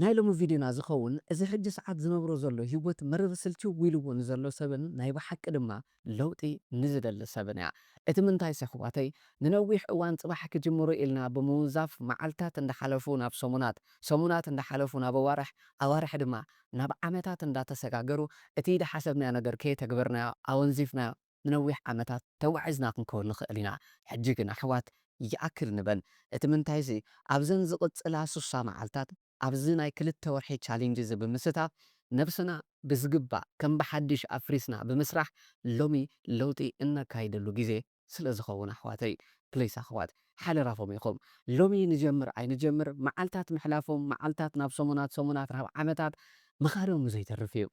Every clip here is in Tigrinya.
ናይ ሎሚ ቪድዮና ዝኸውን እዚ ሕጂ ሰዓት ዝነብሮ ዘሎ ሂወት መረር ስልችው ኢልዎ ንዘሎ ሰብን ናይ ብሓቂ ድማ ለውጢ ንዝደሊ ሰብን እያ እቲ ምንታይስ የሕዋተይ ንነዊሕ እዋን ጽባሕ ክጅምሮ ኢልና ብምውንዛፍ መዓልታት እንዳሓለፉ ናብ ሰሙናት ሰሙናት እንዳሓለፉ ናብ ኣዋርሕ ኣዋርሕ ድማ ናብ ዓመታት እንዳተሰጋገሩ እቲ ኢዳሓሰብናዮ ነገር ከየተግበርናዮ ኣወንዚፍናዮ ንነዊሕ ዓመታት ተጓዒዝና ክንከውን ንኽእል ኢና። ሕጂ ግን ኣሕዋት ይኣክል ንበል። እቲ ምንታይ'ዚ ኣብዘን ዝቕጽላ ስሳ መዓልታት ኣብዚ ናይ ክልተ ወርሒ ቻሊንጅ'ዚ ብምስታፍ ነብስና ብዝግባእ ከም ብሓድሽ ኣፍሪስና ብምስራሕ ሎሚ ለውጢ እነካይደሉ ግዜ ስለ ዝኸውን ኣሕዋተይ ፕሊስ ኣሕዋት ሓደራኹም ኢኹም ሎሚ ንጀምር ኣይንጀምር መዓልታት ምሕላፎም መዓልታት ናብ ሰሙናት ሰሙናት ናብ ዓመታት ምኻዶም ዘይተርፍ እዩ።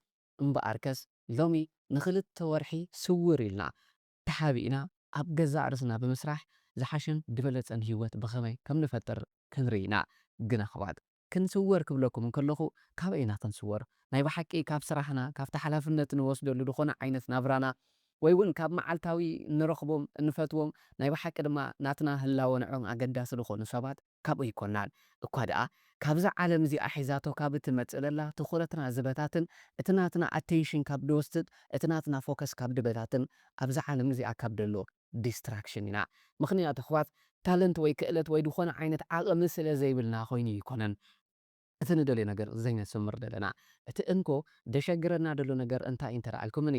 እምበኣርከስ ሎሚ ንኽልተ ወርሒ ስውር ኢልና፣ ተሓቢእና ኣብ ገዛእ ርእስና ብምስራሕ ዝሓሸን ድበለጸን ህይወት ብኸመይ ከም ንፈጥር ክንርኢ ኢና። ግን ኣሕዋት ክንስወር ክብለኩም እንከለኹ ካበይ ኢና ክንስወር? ናይ ብሓቂ ካብ ስራሕና፣ ካብቲ ሓላፍነት ንወስደሉ ዝኾነ ዓይነት ናብራና ወይ'ውን ካብ መዓልታዊ እንረኽቦም እንፈትዎም ናይ ብሓቂ ድማ ናትና ህላወ ንዕኦም ኣገዳሲ ዝኾኑ ሰባት? ካብኡ ኣይኮናን። እኳ ደኣ ካብዛ ዓለም እዚኣ ሒዛቶ ካብ እትመጽእ ዘላ ትኹረትና ዝበታትን፣ እቲ ናትና ኣቴንሽን ካብ ድወስድ፣ እቲ ናትና ፎከስ ካብ ድበታትን፣ ኣብዛ ዓለም እዚኣ ካብ ደሎ ዲስትራክሽን ኢና። ምኽንያቱ ኣሕዋት ታለንት ወይ ክእለት ወይ ዝኾነ ዓይነት ዓቕሚ ስለ ዘይብልና ኮይኑ ኣይኮነን። እቲ ንደልዮ ነገር ዘይነስምር ደለና እቲ እንኮ ደሸግረና ደሎ ነገር እንታይ እንተ ኣልኩምኒ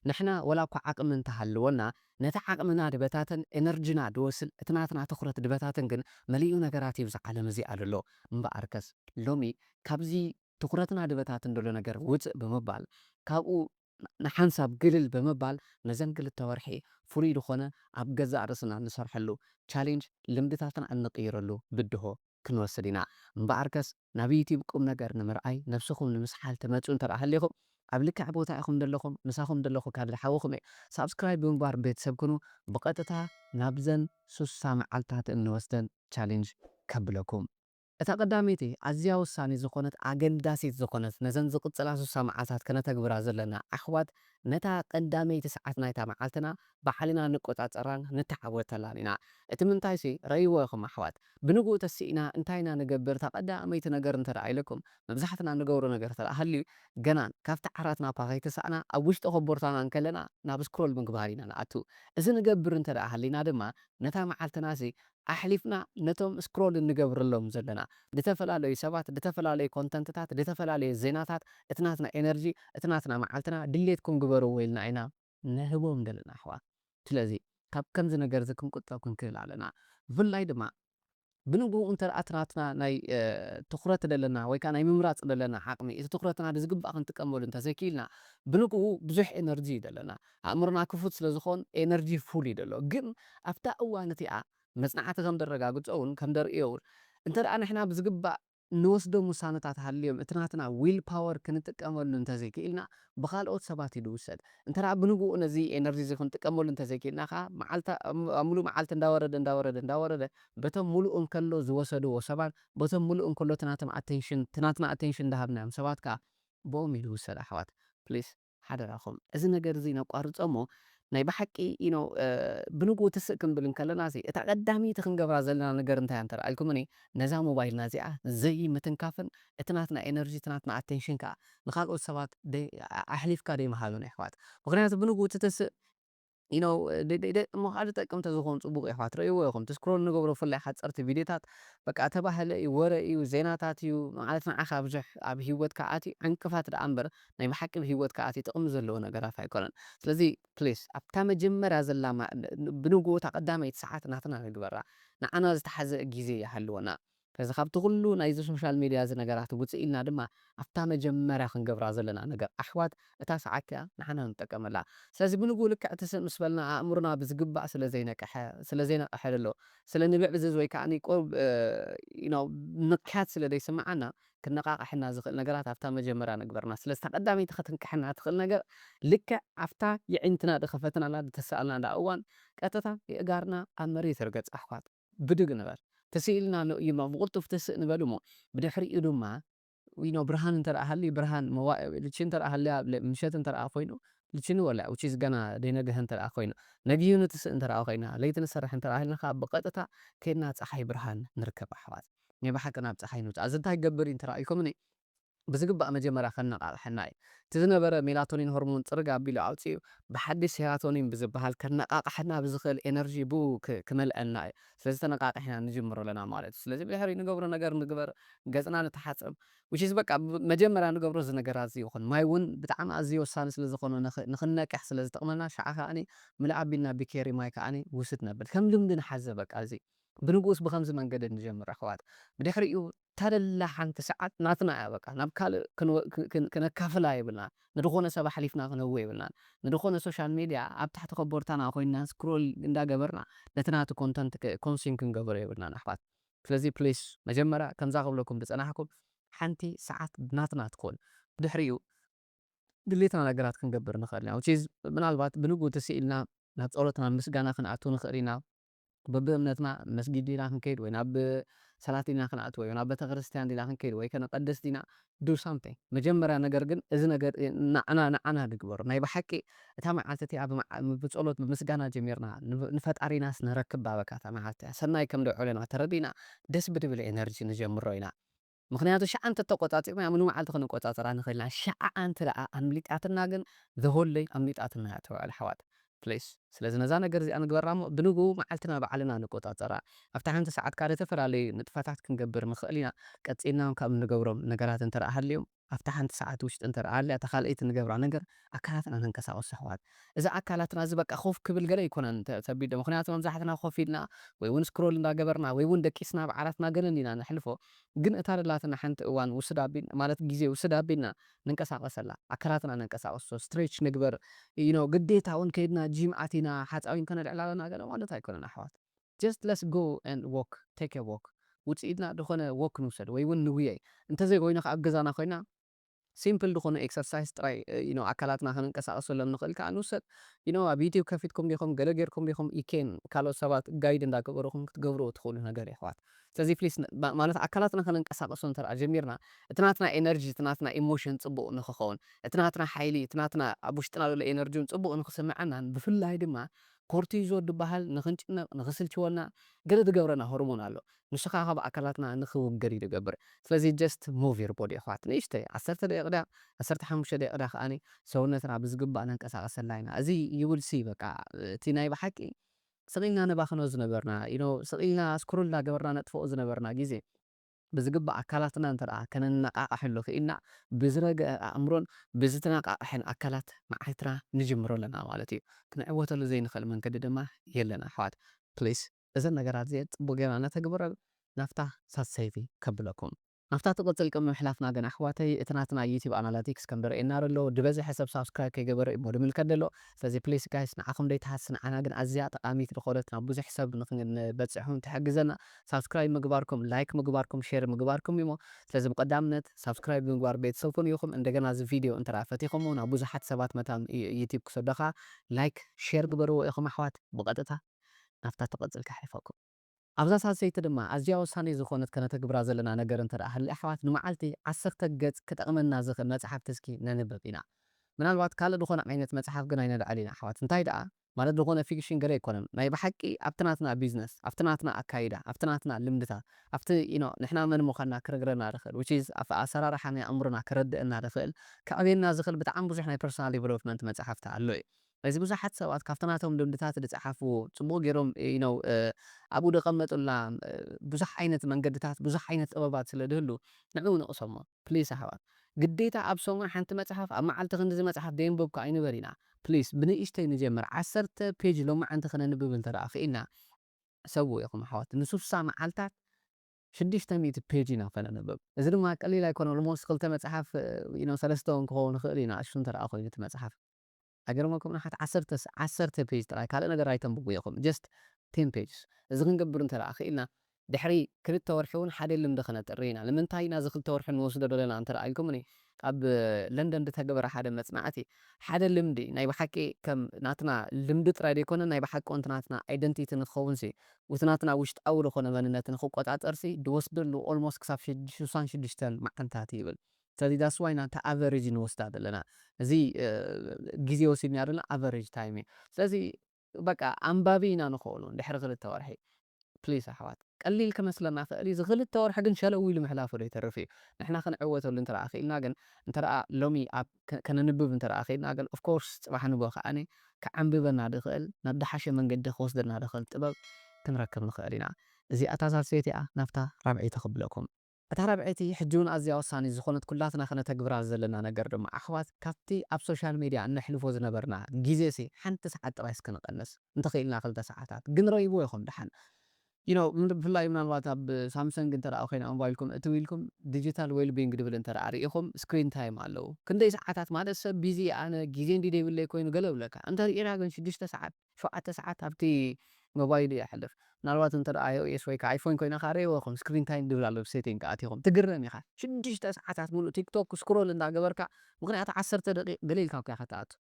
ንሕና ወላ እኳ ዓቅሚ እንተ ሃልዎና ነቲ ዓቅምና ድበታትን ኤነርጅና ድወስድ እቲ ናትና ትኩረት ድበታትን ግን መሊኡ ነገራት እዩ እብዛ ዓለም እዚኣ ደሎ እምበኣርከስ ሎሚ ካብዚ ትኩረትና ድበታትን ደሎ ነገር ውጽእ ብምባል ካብኡ ንሓንሳብ ግልል ብምባል ነዘን ክልተ ወርሒ ፍሉይ ዝኾነ ኣብ ገዛእ ርእስና ንሰርሐሉ፣ ቻሌንጅ፣ ልምድታትና እንቕይረሉ ብድሆ ክንወስድ ኢና። እምበኣርከስ ናብ ዩትዩብ ቁምነገር ንምርኣይ ነብስኹም ንምስሓል ትመጹ እንተ ሃሊኹም ኣብ ልክዕ ቦታ ኢኹም ደለኹም ምሳኹም ደለኹ ካብ ዝሓወኹም እየ ሳብስክራይብ ብምግባር ቤተሰብ ኩኑ ብቐጥታ ናብዘን ስሳ መዓልትታት እንወስደን ቻሌንጅ ከብለኩም እታ ቀዳመይቲ ኣዝያ ወሳኒት ዝኾነት ኣገዳሲት ዝኾነት ነዘን ዝቕጽላ ስሳ መዓልታት ከነተግብራ ዘለና ዓኽባት ነታ ቀዳመይቲ ሰዓት ናይታ መዓልትና ባዕልና ንቆጻጸራን ንተዓወተላን ኢና እቲ ምንታይሲ ረእይዎ ኢኹም ኣሕዋት ብንግኡ ተሲእና እንታይ ኢና ንገብር እታ ቀዳመይቲ ነገር እንተ ኢለኩም መብዛሕትና ንገብሮ ነገር እንተ ሃልዩ ገና ካብቲ ዓራትና እኳ ከይተሳእና ኣብ ውሽጢ ኮቦርታና እንከለና ናብ ስክሮል ምግባር ኢና ንኣቱ እዚ ንገብር እንተ ሃሊና ድማ ነታ መዓልትናሲ ኣሕሊፍና ነቶም ስክሮል እንገብረሎም ዘለና ድተፈላለዩ ሰባት ድተፈላለዩ ኮንተንትታት ድተፈላለየ ዜናታት እቲ ናትና ኤነርጂ እቲ ናትና መዓልትና ድሌትኩም ግበርዎ ኢልና ኢና ንህቦም ደለና ኣሕዋት ስለዚ ካብ ከምዚ ነገርዚ ክንቁጠብ ክንክእል ኣለና ብፍላይ ድማ ብንግኡ እንተደኣ እቲ ናትና ናይ ትኹረት ደለና ወይ ከኣ ናይ ምምራጽ ደለና ዓቕሚ እቲ ትኹረትና ብዝግባእ ክንጥቀመሉ እንተዘይኪኢልና ብንግኡ ብዙሕ ኤነርጂ እዩ ደለና ኣእምሮና ክፉት ስለ ዝኾን ኤነርጂ ፉል እዩ ዘሎ ግን ኣብታ እዋን እቲኣ መጽናዕቲ ከም ደረጋግጾውን ከም ደርእዮውን እንተ ንሕና ብዝግባእ ንወስዶም ውሳነታት ሃልዮም እቲ ናትና ዊል ፓወር ክንጥቀመሉ እንተ ዘይክኢልና ብኻልኦት ሰባት እዩ ድውሰድ እንተ ብንግኡ ነዚ ኤነርጂ እዚ ክንጥቀመሉ እንተ ዘይክኢልና ከኣ መዓልታ ኣብ ምሉእ መዓልቲ እንዳወረደ እንዳወረደ እንዳወረደ በቶም ምሉእ እንከሎ ዝወሰድዎ ሰባት በቶም ምሉእ እንከሎ እቲ ናቶም ኣተንሽን እቲ ናትና ኣተንሽን እንዳሃብናዮም ሰባት ከኣ ብኦም እዩ ድውሰድ ኣሕዋት please ሓደራኹም እዚ ነገር እዚ ነቋርጾ እሞ ናይ ብሓቂ you know ብንግኡ ትስእ ክንብል እንከለና ሲ እታ ቀዳመይቲ ክንገብራ ዘለና ነገር እንታይ እያ እንተ ኣልኩምኒ ነዛ ሞባይልና እዚኣ ዘይምትንካፍን እቲ ናትና ኤነርጂ እቲ ናትና ኣቴንሽን ከኣ ንካልኦት ሰባት ኣሕሊፍካ ደይምሃብን የሕዋት ምኽንያቱ ብንግኡ ትትስእ you know ደቅሞ ካኣ ዝጠቅም ተዝኮን ጽቡቅ ኢዩ ትርእይዎ ኢኩም እቲ ስክሮል ንገብሮ ብፍላይ ሓጸርቲ ቪድዮታት በቃ ተባህለ ኢዩ ወረ ኢዩ ዜናታት ኢዩ ማለት ንዓካ ብዙሕ ኣብ ሂወትካ ኣትዩ ዕንቅፋት ዳኣ እንበር ናይ ብሓቂ ኣብ ሂወትካ ኣትዩ ጥቅሚ ዘለዎ ነገራት ኣይኮነን ስለዚ please ኣብታ መጀመርያ ዘላ ብንግኡ እታ ቀዳመይቲ ሳዓት ናትና ንግበራ ንዓና ዝተሓዘ ግዜ ይሃልወና ስለዚ ካብቲ ኩሉ ናይዚ ሶሻል ሜድያ እዚ ነገራት ውጽእ ኢልና ድማ ኣብታ መጀመርያ ክንገብራ ዘለና ነገር ኣሕዋት እታ ሰዓት እቲኣ ንዓና ንጠቀመላ ስለዚ ብንግኡ ልክዕ ትስእ ምስ በልና ኣእምሮና ብዝግባእ ስለ ዘይነቀሐ ስለ ዘይነቀሐ ደሎ ስለ ንብዕዝዝ ወይ ከኣ ቁሩብ you know ንቅሐት ስለ ዘይስምዓና ክነቃቅሐና ዝክእል ነገራት ኣብታ መጀመርያ ንግበርና ስለዚ እታ ቀዳመይቲ ከትንቅሐና ትክእል ነገር ልክዕ ኣብታ የዒንትና ድከፈትናላ ድተሰኣልናላ እዋን ቀጥታ የእጋርና ኣብ መሬት ይርገጽ ኣሕዋት ብድግ ንበል ተሲእልና ኣሎ እዩሞ ብቕልጡፍ ተስእ ንበል እሞ ብድሕሪኡ ድማ you know ብርሃን እንተ ሃልዩ ብርሃን መዋእ ልቺ እንተ ሃልያ ምሸት እንተ ኮይኑ ልቺ ንበላ which is ገና ደይነግሀ እንተ ኮይኑ ነጊሁ ንትስእ እንተ ኮይና ለይቲ ንሰርሕ እንተ ኢልና ከኣ ብቐጥታ ከይድና ጸሓይ ብርሃን ንርከብ ኣሕዋት ናይ ብሓቂ ናብ ጸሓይ ንውጻእ እዚ እንታይ ክገብር እዩ እንተ ኢልኩምኒ ብዝግባእ መጀመርያ ከነቓቕሐና እዩ። እቲ ዝነበረ ሜላቶኒን ሆርሞን ጽርግ ኣቢሉ ኣውጺኡ ብሓድሽ ሴራቶኒን ብዝበሃል ከነቓቕሐና ብዝኽእል ኤነርጂ ብኡ ክመልኣልና እዩ። ስለዚ ተነቓቒሕና ንጅምሮ ኣለና ማለት እዩ። ስለዚ ብድሕሪ ንገብሮ ነገር ንግበር፣ ገጽና ንተሓጸብ which is በቃ መጀመርያ ንገብሮ እዚ ነገራት እዚ ይኹን። ማይ እውን ብጣዕሚ ኣዝዩ ወሳኒ ስለ ዝኾነ ንኽንነቅሕ ስለ ዝጠቕመና ሽዓ ከኣ ምልእ ኣቢልና ብኬሪ ማይ ከኣ ውስድ ነብል። ከም ልምዲ ንሓዘ በቃ እዚ። ብንጉስ ብኸምዚ መንገዲ ንጀምር ኣሕዋት። ብድሕሪኡ እታ ደላ ሓንቲ ሰዓት ናትና እያ በቃ ናብ ካልእ ክንወ ክነካፍላ የብልናን ንድኾነ ሰብ ኣሕሊፍና ክንህቦ የብልናን ንድኾነ ሶሻል ሜድያ ኣብ ታሕቲ ከቦርታና ኮይንና ስክሮል እንዳ ገበርና ነቲ ናቱ ኮንተንት ከ ኮንስዩም ክንገብሮ የብልናን ኣሕዋት ስለዚ ፕሊስ መጀመርያ ከምዛ ክብለኩም ድጸናሕኩም ሓንቲ ሰዓት ናትና ትኹን ብድሕሪኡ ድሌትና ነገራት ክንገብር ንኽእል ኢና which is ምናልባት ብንግኡ ትስኢልና ናብ ጸሎት ናብ ምስጋና ክንኣቱ ንኽእል ኢና በብእምነትና መስጊድ ዲና ክንከይድ ወይ ናብ ሰላት ዲና ክንኣቱ ወይ ናብ ቤተክርስትያን ዲና ክንከይድ ወይ ከነቀድስ ዲና do something መጀመርያ ነገር ግን እዚ ነገር ናዕና ንዓና ንግበሮ ናይ ብሓቂ እታ መዓልቲ እቲኣ ብጸሎት ብምስጋና ጀሚርና ንፈጣሪናስ ነረክብ ባበካ እታ መዓልቲ እቲኣ ሰናይ ከምደወለና ተረዲእና ደስ ብድብል ኤነርጂ ንጀምሮ ኢና። ምኽንያቱ ሽዓ እንተ ተቆጻጺርናያ ሙሉ መዓልቲ ክንቆጻጸራ ንኽእል ኢና ሽዓ ኣንተ ደኣ ኣምሊጣትና ግን the whole day ኣምሊጣትና እያ ተባዕል ኣሕዋት please ስለዚ ነዛ ነገር እዚኣ ንግበራ እሞ ብንግኡ መዓልትና ባዕልና ንቆጻጸራ ኣብታ ሓንቲ ሰዓት ከኣ ንተፈላለዩ ንጥፈታት ክንገብር ንኽእል ኢና ቀጺልና ውን ካብ እንገብሮም ነገራት እንተ ሃልዮም ኣብታ ሓንቲ ሰዓት ውሽጢ እንተ ሃልያ እታ ካልኣይቲ ንገብራ ነገር ኣካላትና ነንቀሳቅስ ኣሕዋት እዚ ኣካላትና እዚ በቃ ኮፍ ክብል ገለ ኣይኮነን ተቢዶ ምክንያቱ መብዛሕትና ኮፍ ኢልና ወይ ውን ስክሮል እንዳገበርና ወይ ውን ደቂስና ኣብ ዓራትና ገለ እንዲና ነሕልፎ ግን እታ ደላትና ሓንቲ እዋን ውስድ ኣቢልና ማለት ግዜ ውስድ ኣቢልና ንንቀሳቀሰላ ኣካላትና ነንቀሳቅሶ ስትሬች ንግበር you know ግዴታ ውን ከይድና ጂም ኣቲና ሓጻ ውን ከነልዕል ኣለና ገለ ማለት ኣይኮነን ኣሕዋት just let's go and walk take a walk ውጺኢትና ድኮነ walk ንውሰድ ወይ ውን ንጉየይ እንተዘይ ኮይና ከኣ ኣብ ገዛና ኮይና ሲምፕል ድኾኑ ኤክሰርሳይስ ጥራይ you know ኣካላትና ከነንቀሳቅሰሎም ንኽእል ክኣ ንውሰድ you know ኣብ ዩቱብ ከፊትኩም ዲኹም ገለ ጌርኩም ዲኹም ይኬን ካልኦት ሰባት ጋይድ እንዳ ገበሩኹም ክትገብርዎ ትኽእሉ ነገር እዩ ኣሕዋት ስለዚ ፕሊስ ማለት ኣካላትና ከነንቀሳቅሶ እንተድኣ ጀሚርና እቲ ናትና ኤነርጂ እቲ ናትና ኢሞሽን ጽቡቅ ንኽኸውን እቲ ናትና ሓይሊ እቲ ናትና ኣብ ውሽጥና ዘሎ ኤነርጂ ውን ጽቡቅ ንኽስምዓናን ብፍላይ ድማ ኮርቲዞ ድብሃል ንኽንጭነቅ ንኽስልችወና ገለ ድገብረና ሆርሞን ኣሎ ንሽኻ ካብ ኣካላትና ንኽውገድ እዩ ዝገብር ስለዚ just move your body የሕዋት ንእሽተይ ዓሰርተ ደቂቅ ድያ ዓሰርተ ሓሙሽተ ደቂቅ ድያ ከኣ ሰውነትና ብዝግባእ ነንቀሳቅሰላ ኢና እዚ you will see በቃ እቲ ናይ ብሓቂ ስቅ ኢልና ነባኽኖ ዝነበርና you know ስቅ ኢልና scroll እንዳገበርና ነጥፍኦ ዝነበርና ግዜ ብዝግባእ ኣካላትና እንተ ከነነቃቅሐሉ ክኢልና ብዝረገኣ ኣእምሮን ብዝተነቃቅሐን ኣካላት መዓልትና ንጅምሮ ኣለና ማለት እዩ ክንዕወተሉ ዘይንኽእል መንገዲ ድማ የለን ኣሕዋት please እዘን ነገራት እዚኤን ጽቡቅ ጌርና ነተግብረን ናፍታ ሳሰይቲ ከብለኩም ናፍታ ትቅጽል ቅድሚ ምሕላፍና ግን ኣሕዋተይ እቲ ናትና ዩቲብ ኣናላቲክስ ከም ድርኤና ደሎ ድበዘሐ ሰብ ሳብስክራይብ ከይገበረ እዩሞ ድምልከት ደሎ ስለዚ ፕሊስ ጋይስ ንዓኹም ደይትሃሲ ንዓና ግን ኣዝያ ጠቃሚት ድኾነት ናብ ብዙሕ ሰብ ንክንበጽሕውን ትሕግዘና ሳብስክራይብ ምግባርኩም ላይክ ምግባርኩም ሼር ምግባርኩም እዩሞ ስለዚ ብቀዳምነት ሳብስክራይብ ብምግባር ቤተሰብ ኩኑ ኢኹም እንደገና እዚ ቪድዮ እንተ ፈቲኹሞ ናብ ብዙሓት ሰባት መታን ዩቲብ ክሰደኻ ላይክ ሼር ግበርዎ ኢኹም ኣሕዋት ብቀጥታ ናብታ ትቕጽል ከሕልፈኩም። ኣብዛ ሳልሰይቲ ድማ ኣዝያ ወሳኒት ዝኾነት ከነተግብራ ዘለና ነገር እንተ ደኣ ሃልያ ኣሕዋት ንመዓልቲ ዓሰርተ ገጽ ክጠቕመና ዝኽእል መጽሓፍቲ እስኪ ነንብብ ኢና። ምናልባት ካልእ ዝኾነ ዓይነት መጽሓፍ ግን ኣይነልዕል ኢና ኣሕዋት እንታይ ደኣ ማለት ዝኾነ ፊክሽን ገለ ኣይኮነን ናይ ብሓቂ ኣብቲ ናትና ቢዝነስ ኣብቲ ናትና ኣካይዳ ኣብቲ ናትና ልምድታት ኣብቲ you know ንሕና መን ምዃንና ክነግረና ዝኽእል which is ኣብቲ ኣሰራርሓ ናይ ኣእምሮና ከረድእና ዝኽእል ከዕብየና ዝኽእል ብጣዕሚ ብዙሕ ናይ ፐርሰናል ዲቨሎፕመንት መጽሓፍቲ ኣሎ እዩ። እዚ ብዙሓት ሰባት ካብቲ ናቶም ልምድታት ዝጸሓፍዎ ጽቡቕ ጌሮም you know ኣብኡ ዘቐመጡልና ብዙሕ ዓይነት መንገድታት ብዙሕ ዓይነት ጥበባት ስለ ዝህሉ ንዕኡ ንቕሰሞ please ኣሕዋት ግዴታ ኣብ ሰሙን ሓንቲ መጽሓፍ ኣብ መዓልቲ ክንድዚ መጽሓፍ ዘየንበብኩ ኣይንበል ኢና please ብንእሽተይ ንጀምር ዓሰርተ page ሎማዓንቲ ክነንብብ እንተ ክኢልና ሕሰብዎ ኢኹም ኣሕዋት ንሱሳ መዓልታት ሽዱሽተ ሚእቲ page ኢና ከነንብብ እዚ ድማ ቀሊል ኣይኮነን almost ክልተ መጽሓፍ you know ሰለስተ ውን ክኸውን ይኽእል እዩ ንኣሽቱ እንተ ኮይኑ እቲ መጽሓፍ። ኣይገርመኩምን ኣሓት ዓሰርተ ዓሰርተ ፔጅ ጥራይ ካልእ ነገር ኣይተንብቡ ኢኩም ጀስት ቴን ፔጅስ እዚ ክንገብር እንተ ክኢልና ድሕሪ ክልተ ወርሒ ውን ሓደ ልምዲ ከነጥሪ ኢና ንምንታይ ናዚ ክልተ ወርሒ ንወስዶ ደለና እንተ ኢልኩምኒ ኣብ ለንደን ድተገበረ ሓደ መጽናዕቲ ሓደ ልምዲ ናይ ብሓቂ ከም ናትና ልምዲ ጥራይ ደይኮነ ናይ ብሓቂ ውን እቲ ናትና ኣይደንቲቲ ንክከውንሲ ውቲ ናትና ውሽጣዊ ድኮነ መንነት ንክቆጻጸርሲ ድወስደሉ ኦልሞስት ክሳብ ሽሳን ሽዱሽተን መዓልታት ይብል ስለዚ that's why ናታ ኣቨሬጅ ንወስዳ ዘለና እዚ ግዜ ወሲድናዮ ዘለና ኣቨሬጅ ታይም እዩ ስለዚ በቃ ኣንባቢ ኢና ንክእሎ ድሕሪ ክልተ ወርሒ please ኣሕዋት ቀሊል ክመስለና ይክእል እዩ እዚ ክልተ ወርሒ ግን ሸለው ኢሉ ምሕላፉ ዘይተርፍ እዩ ንሕና ክንዕወተሉ እንተ ክኢልና ግን እንተ ሎሚ ኣብ ከነንብብ እንተ ክኢልና ግን of course ፅባሕ ንግሆ ከዓ ከዓንብበና ዝክእል ናብ ዝሓሸ መንገዲ ክወስደና ዝክእል ጥበብ ክንረክብ ንክእል ኢና እዚኣ እታ ሳልሰይቲ እያ ናብታ ራብዐይቲ ክብለኩም እታ ራብዐይቲ ሕጂውን ኣዝያ ወሳኒት ዝኾነት ኩላትና ከነተግብራ ዘለና ነገር ድማ ኣሕዋት ካብቲ ኣብ ሶሻል ሜድያ እነሕልፎ ዝነበርና ጊዜሲ ሓንቲ ሰዓት ጥራይ እስከ ንቀንስ እንተኺኢልና ክልተ ሰዓታት ግን ረይብዎ ኢኹም ደሓን you know ብፍላይ ምናልባት ኣብ ሳምሰንግ እንተ ኮይና ሞባይልኩም እትው ኢልኩም ዲጂታል ዌልቢንግ ድብል እንተ ሪኢኹም ስክሪን ታይም ኣለው ክንደይ ሰዓታት ማለት ሰብ ቢዚ ኣነ ጊዜ እንድዩ ደይብለይ ኮይኑ ገለ ይብለካ እንተ ሪኢና ግን ሽዱሽተ ሰዓት ሸውዓተ ሰዓት ኣብቲ ሞባይል እዩ ዘሕልፍ ምናልባት እንተ IOS ወይ ከኣ iPhone ኮይና ከኣ ርእይዎ ኢኹም Screen Time ዝብል ኣሎ Setting ከኣ ኣቲኹም ትግረም ኢኻ ሽዱሽተ ሰዓታት ምሉእ TikTok Scroll እንዳ ገበርካ ምኽንያቱ ዓሰርተ ደቂቅ ገለ ኢልካ እኮ ኢኻ ትኣቱ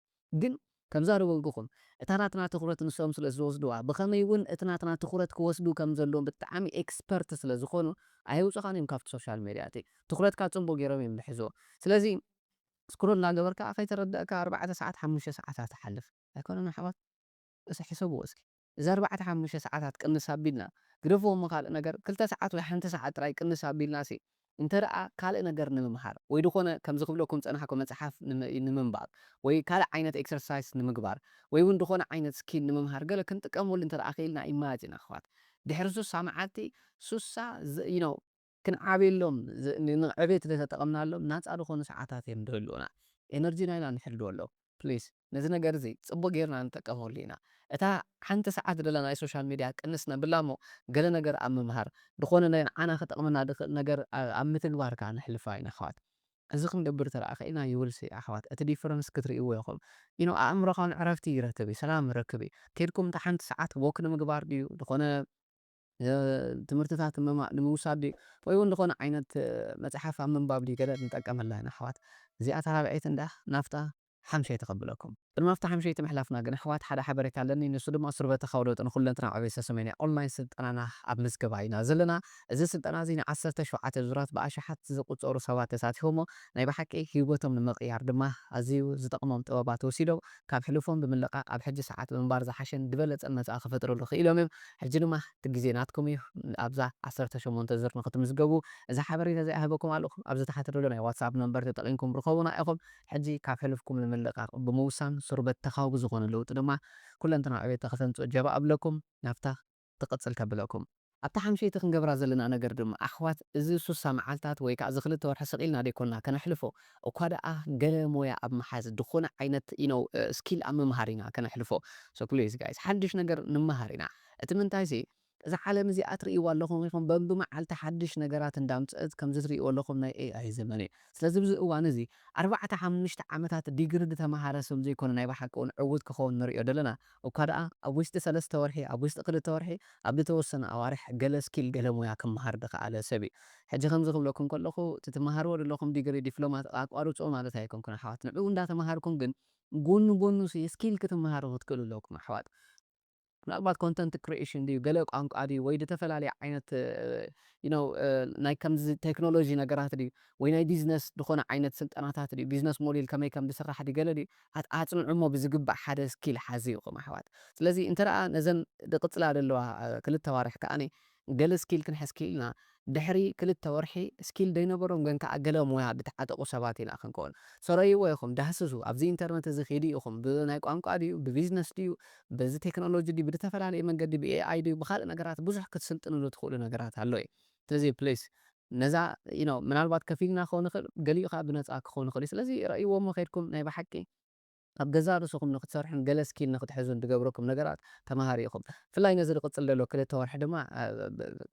ግን ከምዛ ዝበልኩኹም እታ ናትና ትኹረት ንሶም ስለ ዝወስድዋ ብኸመይ ውን እቲ ናትና ትኹረት ክወስዱ ከም ዘለዎም ብጣዕሚ Expert ስለ ዝኾኑ ኣየውጹኻን እዮም ካብቲ Social Media እቲ ትኹረትካ ጽቡቅ ጌሮም እዮም ዝሕዝዎ ስለዚ Scroll እንዳ ገበርካ ከይተረደእካ ኣርባዕተ ሰዓት ሓሙሽተ ሰዓታት ትሓልፍ። ኣይኮነን ኣሕዋት እስኪ ሕሰብዎ እስኪ እዚ ኣርባዕተ ሓሙሽተ ሰዓታት ቅንስ ኣቢልና ግደፍዎ እሞ ካልእ ነገር ክልተ ሰዓት ወይ ሓንቲ ሰዓት ጥራይ ቅንስ ኣቢልናሲ እንተደኣ ካልእ ነገር ንምምሃር ወይ ድኾነ ከምዚ ክብለኩም ዝጸናሕኩ መጽሓፍ ንምንባብ ወይ ካልእ ዓይነት ኤክሰርሳይስ ንምግባር ወይ ውን ድኾነ ዓይነት ስኪል ንምምሃር ገለ ክንጥቀመሉ እንተደኣ ክኢልና ኢማጅን ኣሕዋት ድሕሪ ሱሳ መዓልቲ ሱሳ you know ክንዓብየሎም፣ ንዕቤት ዘይተጠቐምናሎም ናጻ ዝኾኑ ሰዓታት እዮም ዝህልዉና። ኤነርጂና ኢና ንሕልወሎም። ፕሊስ ነዚ ነገር እዚ ጽቡቕ ጌርና ንጠቀመሉ ኢና። እታ ሓንቲ ሰዓት ደላ ናይ ሶሻል ሚድያ ቅንስ ነብላ እሞ ገለ ነገር ኣብ ምምሃር፣ ዝኾነ ንዓና ክጠቕመና ዝኽእል ነገር ኣብ ምትግባር ከኣ ነሕልፋ ኢና ኣሕዋት። እዚ ክንገብር ተደኣ ክኢልና you will see ኣሕዋት እቲ ዲፈረንስ ክትርእይዎ ኢኹም። you know ኣእምሮኻውን ዕረፍቲ ይረክብ እዩ፣ ሰላም ይረክብ እዩ። ኬድኩም እታ ሓንቲ ሰዓት ዎክ ንምግባር ድዩ፣ ዝኾነ ትምህርትታት ንምውሳድ ድዩ ወይ ውን ዝኾነ ዓይነት መጽሓፍ ኣብ ምንባብ ድዩ ገለ ንጠቀመላ ኢና ኣሕዋት እዚኣ እታ ራብዐይቲ እንድያ ናብታ ሓምሸይቲ ከብለኩም። ቅድሚ ኣብታ ሓምሸይቲ ምሕላፍና ግን ኣሕዋት ሓደ ሓበሬታ ኣለኒ ንሱ ድማ ሱርበተ ካውሎጥ ንኹለንትናዊ ዕቤት ሰሰሜን እያ ኦንላይን ስልጠናና ኣብ ምዝገባ ኢና ዘለና እዚ ስልጠና እዚ ን ዓሰርተ ሸውዓተ ዙራት ብኣሽሓት ዝቁጸሩ ሰባት ተሳቲፎሞ ናይ ብሓቂ ሂወቶም ንምቕያር ድማ ኣዝዩ ዝጠቕሞም ጥበባት ወሲዶም ካብ ሕሉፎም ብምልቃቕ ኣብ ሕጂ ሰዓት ምንባር ዝሓሸን ድበለጸን መጻኢ ክፈጥርሉ ክኢሎም እዮም። ሕጂ ድማ እቲ ግዜ ናትኩም እዩ። ኣብዛ ዓሰርተ ሸሞንተ ዝር ንክትምዝገቡ እዚ ሓበሬታ እዚ ኣይህበኩም ኣለኹ። ኣብዚ ታሕቲ ዘሎ ናይ ዋትስኣፕ ነምበር ተጠቒምኩም ርኸቡና ኢኹም። ሕጂ ካብ ሕሉፍኩም ንምልቃቕ ብምውሳን ስሩበት ተኻዊ ብዝኾነ ለውጢ ድማ ኩለንትናዊ ዕቤት ንክተምጽኡ ጀባ እብለኩም። ናብታ። ትቅጽል ከብለኩም። ኣብታ ሓምሸይቲ ክንገብራ ዘለና ነገር ድማ ኣሕዋት እዚ ሱሳ መዓልታት ወይ ከኣ እዚ ክልተ ወርሒ ስቅ ኢልና ደይኮንና ከነሕልፎ እኳ ደኣ ገለ ሞያ ኣብ ምሓዝ ድኮነ ዓይነት you know skill ኣብ ምምሃር ኢና ከነሕልፎ so please guys ሓድሽ ነገር ንመሃር ኢና እቲ ምንታይሲ እዛ ዓለም እዚኣ ትርእይዋ ኣለኹም ኢኹም በብመዓልቲ ሓድሽ ነገራት እንዳምጸእት ከምዚ ትርእይዎ ኣለኹም ናይ AI ዘመን እዩ ስለዚ ኣብዚ እዋን እዚ ኣርባዕተ ሓምሽተ ዓመታት ዲግሪ ድተመሃረ ስም ዘይኮነ ናይ ብሓቂ ውን ዕውት ክኸውን ንርእዮ ደለና እኳ ደኣ ኣብ ውሽጢ ሰለስተ ወርሒ፣ ኣብ ውሽጢ ክልተ ወርሒ፣ ኣብ ዝተወሰኑ ኣዋርሕ ገለ ስኪል ገለ ሞያ ክመሃር ዝኸኣለ ሰብ እዩ። ሕጂ ከምዚ ክብለኩም ከለኹ እቲ ትመሃርዎ ዘለኹም ዲግሪ፣ ዲፕሎማ፣ ኣቋርጽዎ ማለት ኣይኮንኩን ኣሕዋት። ንዕኡ እንዳተመሃርኩም ግን ጎኑ ጎኑሲ ስኪል ክትመሃሩ ክትክእሉ ኣለኩም ኣሕዋት። ምናልባት ኮንተንት ክሪኤሽን ድዩ፣ ገለ ቋንቋ ድዩ፣ ወይ ዝተፈላለየ ዓይነት you know ናይ ከምዚ ቴክኖሎጂ ነገራት ድዩ፣ ወይ ናይ ቢዝነስ ዝኾነ ዓይነት ስልጠናታት ድዩ፣ ቢዝነስ ሞዴል ከመይ ከም ዝስራሕ ድዩ፣ ገለ ድዩ፣ ኣጽንዑ እሞ ብዝግባእ ሓደ ስኪል ሓዙ ኢኹም ኣሕዋት ስለዚ እንተ ነዘን ድቅጽላ ደለዋ ክልተ ኣዋርሕ ከኣ ገለ ስኪል ክንሕዝ ኪኢልና ድሕሪ ክልተ ወርሒ ስኪል ደይነበሮም ግን ከኣ ገለ ሞያ ድተዓጠቁ ሰባት ኢና ክንከውን ሰረይዎ ኢኹም ዳህስሱ ኣብዚ ኢንተርነት እዚ ኪዱ ኢኹም ብናይ ቋንቋ ድዩ ብቢዝነስ ድዩ በዚ ቴክኖሎጂ ድዩ ብድተፈላለየ መንገዲ ብኤኣይ ድዩ ብካልእ ነገራት ብዙሕ ክትስልጥንሉ ትኽእሉ ነገራት ኣሎ እዩ ስለዚ ፕሊስ ነዛ you know ምናልባት ከፊልና ክኸውን ይኽእል ገሊኡ ከኣ ብነጻ ክኸውን ይኽእል'ዩ ስለዚ ረእይዎ'ሞ ከይድኩም ናይ ብሓቂ ኣብ ገዛእ ርእስኹም ንኽትሰርሑን ገለ ስኪል ንኽትሕዙን ድገብረኩም ነገራት ተማሃሩ ኢኹም ብፍላይ ነዚ ድቕጽል ደሎ ክልተ ወርሒ ድማ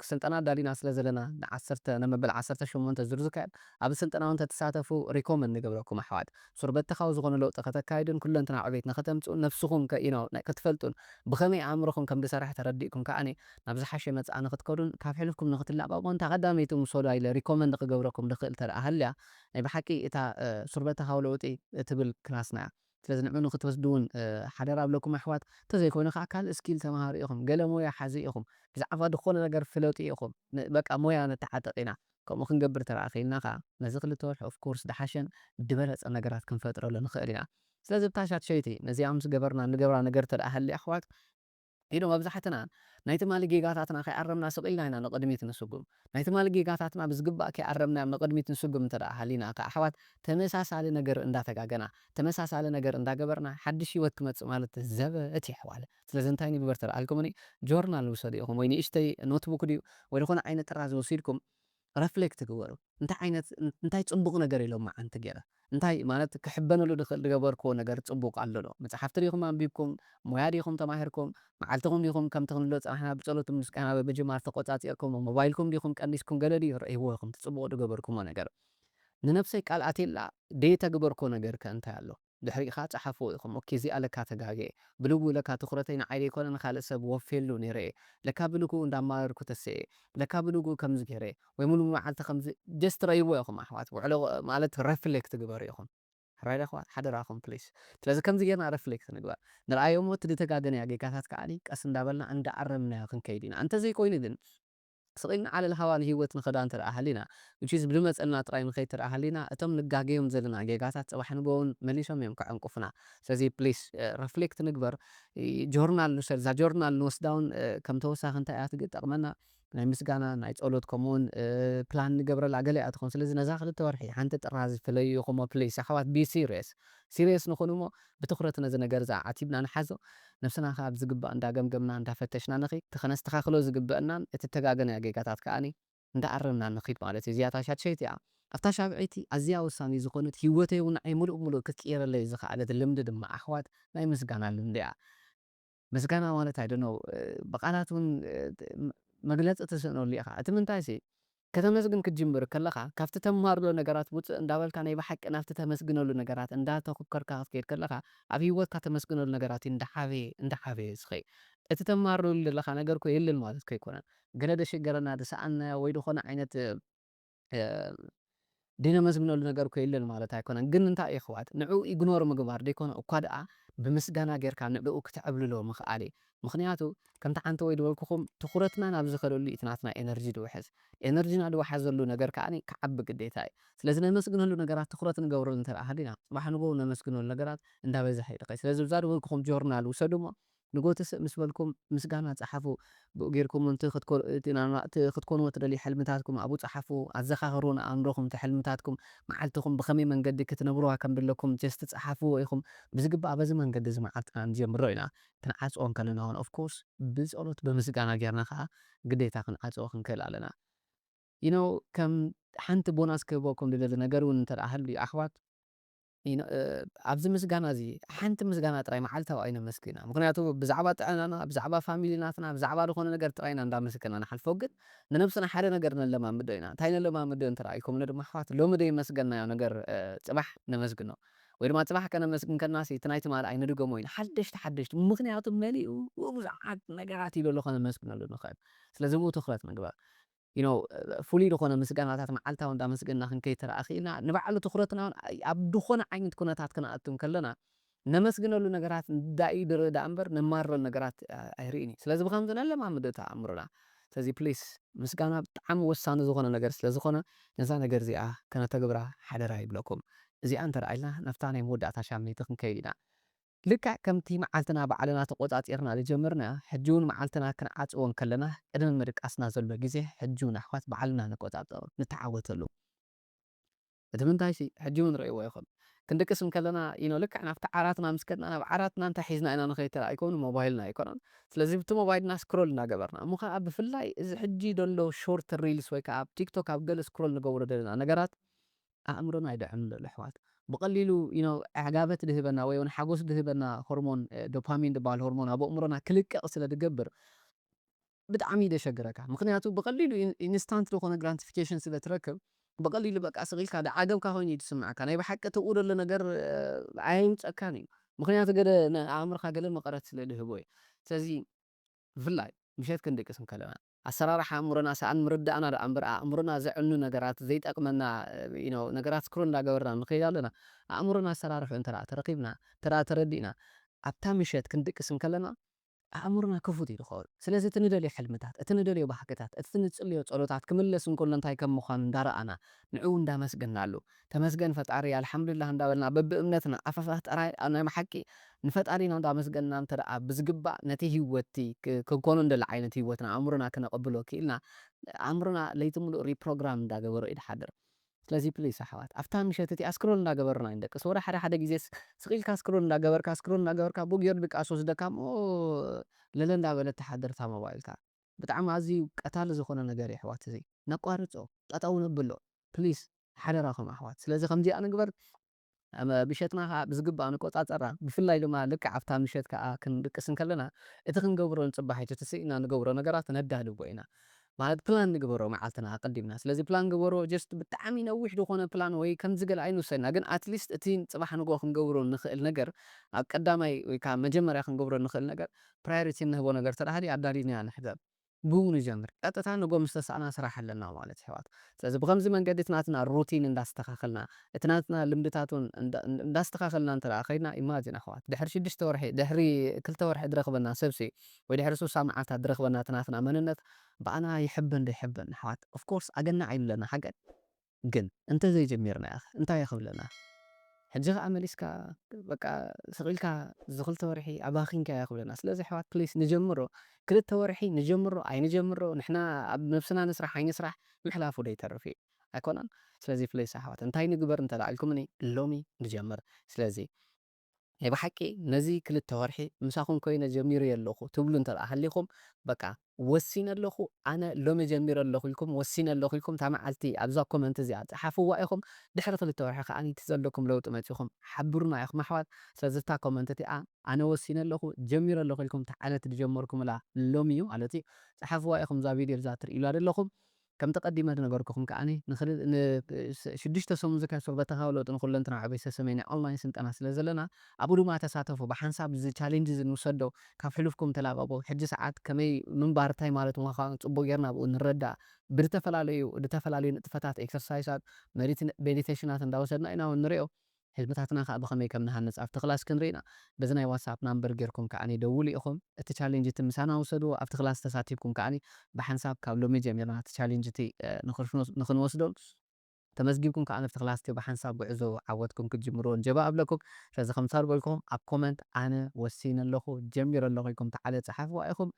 ስልጠና ኣዳሊና ስለ ዘለና ን ዓሰርተ ን መበል ዓሰርተ ሸሞንተ ዙር ዝካየድ ኣብዚ ስልጠና ውን ተትሳተፉ ሪኮመንድ ንገብረኩም ኣሕዋት ሱርበተኻዊ ዝኾነ ለውጢ ከተካይዱን ኩለንትናዊ ዕቤት ንኽተምጽኡን ነብስኹም ከ you know ከትፈልጡን ብኸመይ ኣእምሮኹም ከም ድሰርሕ ተረዲእኩም ከኣ ናብ ዝሓሸ መጻኢ ንክትከዱን ካብ ሕልፍኩም ንክትላቀቁን እታ ቀዳመይቲ ምሰሉዋ ኢለ ሪኮመንድ ክገብረኩም ድክእል ተደኣ ሃልያ ናይ ብሓቂ እታ ሱርበተካዊ ለውጢ ትብል ክላስና እያ ስለዚ ንዑ ንክትወስዱ ውን ሓደራ እብለኩም ኣሕዋት እንተዘይኮይኑ ከኣ ካልእ እስኪል ተማሃሩ ኢኩም ገለ ሞያ ሓዙ ኢኩም ብዛዕባ ድኮነ ነገር ፍለጡ ኢኩም በቃ ሞያ ንተዓጠቅ ኢና ከምኡ ክንገብር ተደኣ ክኢልና ከኣ ነዚ ክልተ ወርሒ ኦፍ ኮርስ ድሓሸን ድበለጸን ነገራት ክንፈጥረሉ ንክእል ኢና ስለዚ እታ ሻድሸይቲ ነዚኣ ምስ ገበርና እንገብራ ነገር ተደኣ ሃልያ ኣሕዋት ኢሉ መብዛሕትና ናይ ትማሊ ጌጋታትና ከይኣረምና ስቕ ኢልና ኢና ንቕድሚት ንስጉም። ናይ ትማሊ ጌጋታትና ብዝግባእ ከይኣረምናዮም ንቕድሚት ንስጉም እንተ ደኣ ሃሊና ከኣ ኣሕዋት ተመሳሳሊ ነገር እንዳ ተጋገና፣ ተመሳሳሊ ነገር እንዳ ገበርና ሓድሽ ህይወት ክመጽእ ማለት ዘበት እዩ ኣሕዋለ። ስለዚ እንታይ ንግበር ተልኣልኩምኒ ጆርናል ውሰዱ ኢኹም ወይ ንእሽተይ ኖትቡክ ድዩ ወይ ዝኾነ ዓይነት ጥራዝ ወሲድኩም፣ ረፍሌክት ግበሩ እንታይ ዓይነት እንታይ ጽቡቅ ነገር ኢሎም መዓንቲ ጌረ እንታይ ማለት ክሕበነሉ ድክእል ድገበርክዎ ነገር ጽቡቅ ኣሎ ዶ መጽሓፍቲ ዲኩም ኣንቢብኩም ሞያ ዲኩም ተማሂርኩም መዓልትኩም ዲኩም ከምቲ ክንብሎ ዝጸናሕና ብጸሎት ብምስጋና ብምጅማር ተቆጻጺርክሞ ሞባይልኩም ዲኩም ቀኒስኩም ገለ ድዩ ረኢዎ ኢኩም እቲ ጽቡቅ ድገበርክሞ ነገር ንነብሰይ ቃል ኣትየላ ደይተግበርክዎ ነገር ከ እንታይ ኣሎ። ድሕሪካ ጸሓፍዎ ኢኩም ኦኬ እዚኣ ለካ ተጋግየ ብልቡ ለካ ትኩረተይ ንዓይ ደይኮነ ንካልእ ሰብ ወፍየሉ ነይረ እየ ለካ ብልኩኡ እንዳ ኣማረርኩ ተሲኤ ለካ ብልጉኡ ከምዚ ገይረ ወይ ሙሉእ መዓልቲ ከምዚ ጀስት ረእይዎ ኢኩም ኣሕዋት ውዕሎ ማለት ረፍሌክት ግበሩ ኢኩም ራይት ኣሕዋት ሓደራኩም ፕሊስ ስለዚ ከምዚ ገይርና ረፍሌክት ንግበር ንርኣዮ እሞ እቲ ድተጋገናዮ ጌጋታት ከኣ ቀስ እንዳበልና እንዳ ኣረምናዮ ክንከይድ ኢና እንተዘይኮይኑ ግን ስቕኢልን ዓለል ሃዋል ህይወትን ኸዳ እንተደኣ ሃሊና፣ which is ብልመጸና ጥራይ ንኸይድ እንተደኣ ሃሊና፣ እቶም ንጋገዮም ዘለና ጌጋታት ጽባሕ ንግሆ ውን መሊሶም እዮም ከዐንቁፉና። ስለዚ please reflect ንግበር፣ ጆርናል ንውሰድ፣ እዛ ጆርናል ንወስዳ ውን ከም ተወሳኺ እንታይ እያ ትጠቕመና፣ ናይ ምስጋና፣ ናይ ጸሎት ከምኡ ውን plan ንገብረላ ገለ እያ ትኸውን። ስለዚ ነዛ ክልተ ወርሒ ሓንቲ ጥራዝ ፍለዩኹሞ please። ኣሕዋት be serious፣ serious ንኹን እሞ ብትኹረት ነዚ ነገር እዚ ኣዓቲብና ንሓዞ፣ ነብስና ከኣ ብዝግባእ እንዳ ገምገምና እንዳ ፈተሽና ንኺድ፣ እቲ ከነስተኻኽሎ ዝግበእናን እቲ እተጋገናዮ ጌጋታት ከኣ እንዳ ኣረምና ንኺድ ማለት እዩ፣ እዚኣ እታ ሻድሸይቲ እያ። ኣብታ ሻብዐይቲ ኣዝያ ወሳኒት ዝኾነት ሂወተይ ውን ንዓይ ምሉእ ብምሉእ ክትቅይረለይ ዝኸኣለት ልምዲ ድማ ኣሕዋት ናይ ምስጋና ልምዲ እያ። ምስጋና ማለት ኣይ ዶንት ኖው ብቃላት ውን መግለጺ ትስእነሉ ኢኻ እቲ ምንታይሲ ከተመስግን ክትጅምር ከለኻ ካብቲ ተማርሎ ነገራት ውጽእ እንዳበልካ ናይ ብሓቂ ናብቲ ተመስግነሉ ነገራት እንዳ ተኩከርካ ክትከይድ ከለኻ ኣብ ሂወትካ ተመስግነሉ ነገራት ዩ እንዳ ዓበየ እንዳ ዓበየ ዝኸይድ እቲ ተማርለሉ ደለኻ ነገር እኮ የለን ማለት ከይኮነ ገለ ደሽገረና ድሰኣንናዮ ወይ ድኾነ ዓይነት ድነመስግነሉ ነገር እኮ የለን ማለት ኣይኮነን ግን እንታይ እዩ የሕዋት ንዕኡ ኢግኖር ምግባር ደይኮነ እኳ ድኣ ብምስጋና ጌርካ ንዕኡ ክተዕብልሎ ምኽኣል እዩ ምኽንያቱ ከምቲ ሓንቲ ወይ ድበልኩኹም ትኹረትና ናብ ዝኸደሉ እዩ እቲ ናትና ኤነርጂ ድውሕዝ ኤነርጂና ድወሓዘሉ ነገር ከኣ ክዓቢ ግዴታ እዩ ስለዚ ነመስግነሉ ነገራት ትኹረት ንገብረሉ እንተ ሃሊና ጽባሕ ንግሆ ነመስግነሉ ነገራት እንዳበዝሐ ይድኸይ ስለዚ እዛ ድበልኩኹም ጆርናል ውሰዱ እሞ ንጎቲ ስእ ምስ በልኩም ምስጋና ጸሓፉ ብኡ ጌርኩም ውን እቲ ክትኮንዎ ትደልዩ ሕልምታትኩም ኣብኡ ጸሓፉ ኣዘኻኽሩ ንኣእምሮኹም እቲ ሕልምታትኩም መዓልትኹም ብኸመይ መንገዲ ክትነብርዋ ከም ድለኩም ጀስት ጸሓፍዎ ኢኹም ብዝግባእ በዚ መንገዲ እዚ መዓልትና ንጀምሮ ኢና ክንዓጽዎ እንከለና ውን of course ብጸሎት ብምስጋና ጌርና ከኣ ግዴታ ክንዓጽዎ ክንክእል ኣለና you know ከም ሓንቲ ቦናስ ክህበኩም ድደሊ ነገር ውን እንተ ሃልዩ ኣሕዋት ኣብዚ ምስጋና እዚ ሓንቲ ምስጋና ጥራይ መዓልታዊ ኣይነመስግን ምኽንያቱ ብዛዕባ ጥዕናና ብዛዕባ ፋሚሊ ናትና ብዛዕባ ዝኾነ ነገር ጥራይ ኢና እንዳመሰገና ንሓልፎ ግን ንነብስና ሓደ ነገር ነለማምዶ ኢና እንታይ ነለማምዶ እንተ ኢልኩምኒ ድማ ኣሕዋት ሎሚ ደይመስገናዮ ነገር ጽባሕ ነመስግኖ ወይ ድማ ጽባሕ ከነመስግን ከልናሲ እቲ ናይ ትማል ኣይንድገሞ ኢና ሓደሽቲ ሓደሽቲ ምኽንያቱ መሊኡ ብዙሓት ነገራት ኢሉ ኣሎ ከነመስግነሉ ንኽእል ስለዚ እብኡ ትኹረት ምግባር you know ፍሉይ ድኾነ ምስጋናታት መዓልታዊ እንዳመስገና ክንከይድ ተራእኺኢልና ንባዕሉ ትኹረትና ውን ኣብ ድኾነ ዓይነት ኩነታት ክንኣቱ እንከለና ነመስግነሉ ነገራት እንዳእዩ ድርኢ ደኣ እምበር ነማርረሉ ነገራት ኣይርእን እዩ ስለዚ ብኸምዚ ነለማምዶ እቲ ኣእምሮና ስለዚ please ምስጋና ብጣዕሚ ወሳኒ ዝኾነ ነገር ስለ ዝኾነ ነዛ ነገር እዚኣ ከነተግብራ ሓደራ ይብለኩም እዚኣ እንተደኣ ኢልና ናብታ ናይ መወዳእታ ሻምነይቲ ክንከይድ ኢና ልክዕ ከምቲ መዓልትና ባዕልና ተቖጻጺርና ዝጀመርና ሕጂውን መዓልትና ክንዓጽዎ እንከለና ቅድሚ ምድቃስና ዘሎ ግዜ ሕጂውን ኣሕዋት ባዕልና ንቆጻጸሮ ንተዓወተሉ እቲ ምንታይሲ ሕጂውን ርእይዎ ኢኹም ክንድቅስ እንከለና ዩኖ ልክዕ ናብቲ ዓራትና ምስ ከድና ናብ ዓራትና እንታይ ሒዝና ኢና ንኸይድ ተራእይኩም ንሞባይልና ኣይኮነን ስለዚ ብቲ ሞባይልና ስክሮል እናገበርና እሞ ከኣ ብፍላይ እዚ ሕጂ ደሎ ሾርት ሪልስ ወይ ከኣ ኣብ ቲክቶክ ኣብ ገለ ስክሮል ንገብሮ ደለና ነገራት ኣእምሮና ይድሕን ኣሎ ኣሕዋት ብቀሊሉ ዩኖው ዕጋበት ድህበና ወይ ውን ሓጎስ ድህበና ሆርሞን ዶፓሚን ድበሃል ሆርሞን ኣብ ኣእምሮና ክልቀቅ ስለ ድገብር ብጣዕሚ ደሸግረካ ምክንያቱ ብቀሊሉ ኢንስታንት ድኮነ ግራንቲፊኬሽን ስለ ትረክብ ብቀሊሉ በቃ ስቅ ኢልካ ድዓገብካ ኮይኑ እዩ ድስመዐካ ናይ ብሓቂ እቲ ኣብኡ ደሎ ነገር ኣየምፀካን እዩ ምክንያቱ ገለ ንኣእምርካ ገለ መቀረት ስለ ድህቦ እዩ ስለዚ ብፍላይ ምሸት ክንድቅስ እንከለና። ኣሰራርሓ ኣእምሮና ሰኣን ምርዳእና ደኣ እምበር ኣእምሮና ዘዕኑ ነገራት ዘይጠቅመና you know ነገራት scroll እንዳገበርና ንኸይድ ኣለና ኣእምሮና ኣሰራርሕኡ እንተ ደኣ ተረኪብና እንተ ደኣ ተረዲእና ኣብታ ምሸት ክንድቅስ እንከለና ኣእምሮና ክፉት እዩ ዝኸውን ስለዚ እቲ ንደልዮ ሕልምታት እቲ ንደልዮ ባህግታት እቲ ንጽልዮ ጸሎታት ክምለስ እንከሎ እንታይ ከም ምዃኑ እንዳረኣና ንዕኡ እንዳመስገናሉ ተመስገን ፈጣሪ ኣልሓምዱሊላህ እንዳበልና በብእምነትና ኣፈፈፍ ጥራይ ኣብ ናይ ብሓቂ ንፈጣሪና እንዳመስገንና እንተደኣ ብዝግባእ ነቲ ሂወትቲ ክንኮኖ እንደሊ ዓይነት ሂወት ንኣእምሮና ክነቐብሎ ኪኢልና ኣእምሮና ለይቲ ምሉእ ሪፕሮግራም እንዳገበሮ እዩ ድሓድር ስለዚ ፕሊስ ኣሕዋት ኣብታ ምሸት እቲኣ ስክሮል እንዳገበርና ኣይንደቅስ ወላ ሓደ ሓደ ግዜስ ስቕ ኢልካ ስክሮል እንዳገበርካ ስክሮል እንዳገበርካ ቡግ ጌሩ ድቃስ ይወስደካ እሞ ለለ እንዳበለት ትሓድር እታ ሞባይልካ ብጣዕሚ ኣዝዩ ቀታሊ ዝኾነ ነገር እዩ ኣሕዋት እዚ ነቋርጾ ጠጠው ነብሎ please ሓደራኹም ኣሕዋት ስለዚ ከምዚኣ ንግበር ምሸትና ከኣ ብዝግባእ ንቆጻጸራ ብፍላይ ድማ ልክዕ ኣብታ ምሸት ከኣ ክንድቅስ እንከለና እቲ ክንገብሮ ንጽባሒቱ ትስኢና ንገብሮ ነገራት ነዳልዎ ኢና ማለት ፕላን ንግበሮ መዓልትና ኣቀዲምና ስለዚ ፕላን ግበሮ just ብጣዕሚ ነዊሕ ዝኾነ ፕላን ወይ ከምዚ ገለ ኣይንውሰድና ግን at least እቲ ጽባሕ ንግሆ ክንገብሮ እንኽእል ነገር ኣብ ቀዳማይ ወይ ከኣ መጀመርያ ክንገብሮ እንኽእል ነገር priority እንህቦ ነገር ተደሃልዩ ኣዳሊና ንሕዘል ብኡ ንጀምር ቀጥታ ንግሆ ምስ ተሳእና ስራሕ ኣለና ማለት የሕዋት ስለዚ ብከምዚ መንገዲ እቲ ናትና ሩቲን እንዳስተካከልና እቲ ናትና ልምድታት ውን እንዳስተካከልና እንተ ከይድና ኢማጅን ኣሕዋት ድሕሪ ሽዱሽተ ወርሒ ድሕሪ ክልተ ወርሒ ድረክበና ሰብሲ ወይ ድሕሪ ሱሳ መዓልታት ድረክበና እቲ ናትና መንነት ብኣና ይሕብን ደይሕብን ኣሕዋት ኦፍኮርስ ኣገናዕ ኢሉ ኣለና ሓቀይ ግን እንተ ዘይጀሚርናዮኸ እንታይ ክብለና ሕጂ ከኣ መሊስካ በቃ ስቅ ኢልካ እዚ ክልተ ወርሒ ኣባኪንካዮ ክብለና ስለዚ ኣሕዋት ፕሊስ ንጀምሮ ክልተ ወርሒ ንጀምሮ ኣይንጀምሮ ንሕና ኣብ ነብስና ንስራሕ ኣይንስራሕ ምሕላፉ ዶ ይተርፍ እዩ ኣይኮነን ስለዚ ፕሊስ ኣሕዋት እንታይ ንግበር እንተ ኢልኩምኒ ሎሚ ንጀምር ስለዚ ናይ ብሓቂ ነዚ ክልተ ወርሒ ምሳኹም ኮይነ ጀሚረዮ ኣለኹ ትብሉ እንተድኣ ሃሊኹም በቃ ወሲነ ኣለኹ ኣነ ሎሚ ጀሚረ ኣለኹ ኢልኩም ወሲነ ኣለኹ ኢልኩም እታ መዓልቲ ኣብዛ ኮመንት እዚኣ ጽሓፍዋ ኢኹም ድሕሪ ክልተ ወርሒ ከኣ እቲ ዘለኩም ለውጢ መጺኹም ሓብሩና ኢኹም ኣሕዋት ስለዚ እታ ኮመንት እቲኣ ኣነ ወሲነ ኣለኹ ጀሚረ ኣለኹ ኢልኩም እታ ዓመት ዝጀመርኩምላ ሎሚ እዩ ማለት እዩ ጽሓፍዋ ኢኹም እዛ ቪድዮ እዛ ትርእዩላ ዘለኹም ከምቲ ቀዲመ ዝነገርኩኹም ከኣ ን ሽዱሽተ ሰሙን ዝካየድ ሶልበታካዊ ለውጢ ንኹለንትናዊ ዕቤት ዝተሰምየ ናይ ኦንላይን ስልጠና ስለ ዘለና ኣብኡ ድማ ተሳተፉ ብሓንሳብ እዚ ቻሌንጅ እዚ ንውሰዶ ካብ ሕሉፍኩም ተላቀቁ ሕጂ ሰዓት ከመይ ምንባር ታይ ማለት ምኻኑ ጽቡቅ ጌርና ኣብኡ ንረዳእ ብድተፈላለዩ ድተፈላለዩ ንጥፈታት ኤክሰርሳይሳት መዲት ሜዲተሽናት እንዳወሰድና ኢና ንሪኦ ህዝብታትና ከኣ ብከመይ ከም ንሃንጽ ኣብቲ ክላስ ክንርኢ ኢና። በዚ ናይ ዋትስኣፕ ናምበር ጌርኩም ከኣ ደውሉ ኢኹም። እቲ ቻሌንጅ እቲ ምሳና ውሰድዎ። ኣብቲ ክላስ ተሳቲፍኩም ከኣ ብሓንሳብ ካብ ሎሚ ጀሚርና እቲ ቻሌንጅ እቲ ንክንወስዶ ተመዝጊብኩም ከኣ ኣብቲ ክላስ እቲ ብሓንሳብ ጉዕዞ ዓወትኩም ክትጅምርዎ ንጀባ እብለኩም። ስለዚ ከምታ ዝበልኩኹም ኣብ ኮመንት ኣነ ወሲነ ኣለኹ፣ ጀሚረ ኣለኹ ኢልኩም ተዓለ ጽሓፍዋ ኢኹም።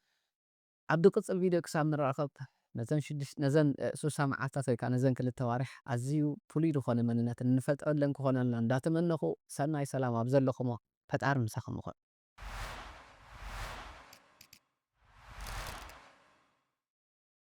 ኣብ ድቅጽል ቪድዮ ክሳብ ንራኸብ ነዘን ሽዱሽተ ነዘን ሱሳ መዓልታት ወይ ከኣ ነዘን ክልተ ኣዋርሕ ኣዝዩ ፍሉይ ዝኾነ መንነት እንፈጥረለን ክኾነልና እንዳተመነኹ ሰናይ ሰላም ኣብ ዘለኹሞ ፈጣሪ ምሳኹም ይኹን።